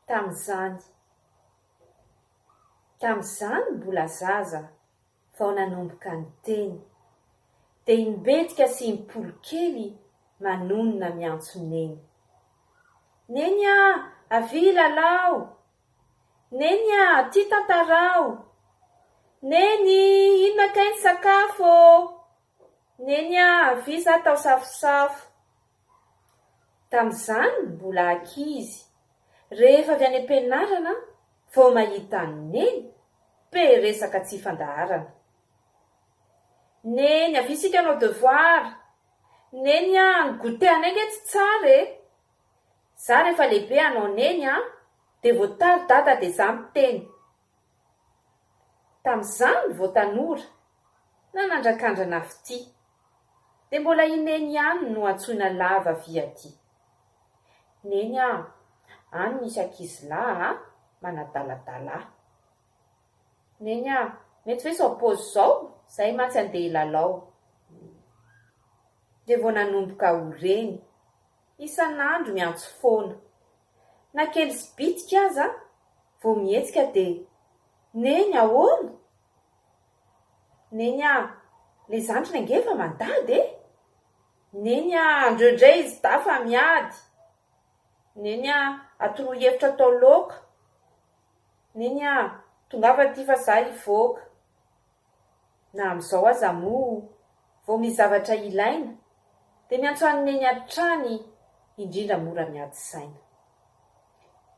Tamin'izany. Tamin'izany mbola zaza vao nanomboka niteny, dia i Mbetika sy i Mpoly kely manonona miantso Neny. Neny a! Avia hilalao! Neny a! Aty tantarao! Neny! Inona kay ny sakafo ô! Neny a, avia za tao safosafo. Tamin'izany mbola ankizy, rehefa avy any am-pianarana vao mahita an'i Neny, pe resaka tsy fandaharana. Neny, avia isika hanao devoir. Neny a, ny goûter anay nge tsy tsara e. Za rehefa lehibe hanao Neny a, de vao tara dada de za miteny. Tamin'izany vao tanora, nanandrakandrana fitia, dia mbola i Neny ihany no antsoina lava vy aty. Neny a! any misy ankizilahy a! manadaladala ahy. Neny a! mety ve izao paozy izao? Izay mantsy andeha hilalao. Dia vao nanomboka ho reny, isan'andro miantso foana, Na kely sy bitika aza vao mihetsika dia Neny ahoana? Neny ah, le zandriny ange efa mandady e! Neny ah, andreo indray izy dahy fa miady! Neny ah, atoroy hevitra atao laoka! Neny ah, tongava aty fa za hivoaka! Na amin'izao aza moa vao misy zavatra ilaina dia miantso an'i Neny hatrany indrindra mora miady saina.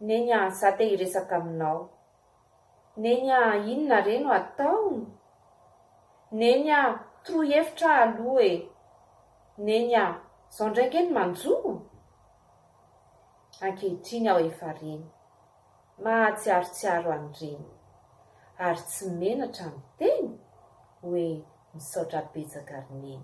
Neny a, za te hiresaka aminao. Neny a, inona re no atao? Neny a, toroy hevitra aho aloha e. Neny a, zao ndray nge no manjo? Ankehitriny aho efa reny. Mahatsiarotsiaro an'ireny. Ary tsy menatra miteny? Hoe misaotra betsaka ry Neny.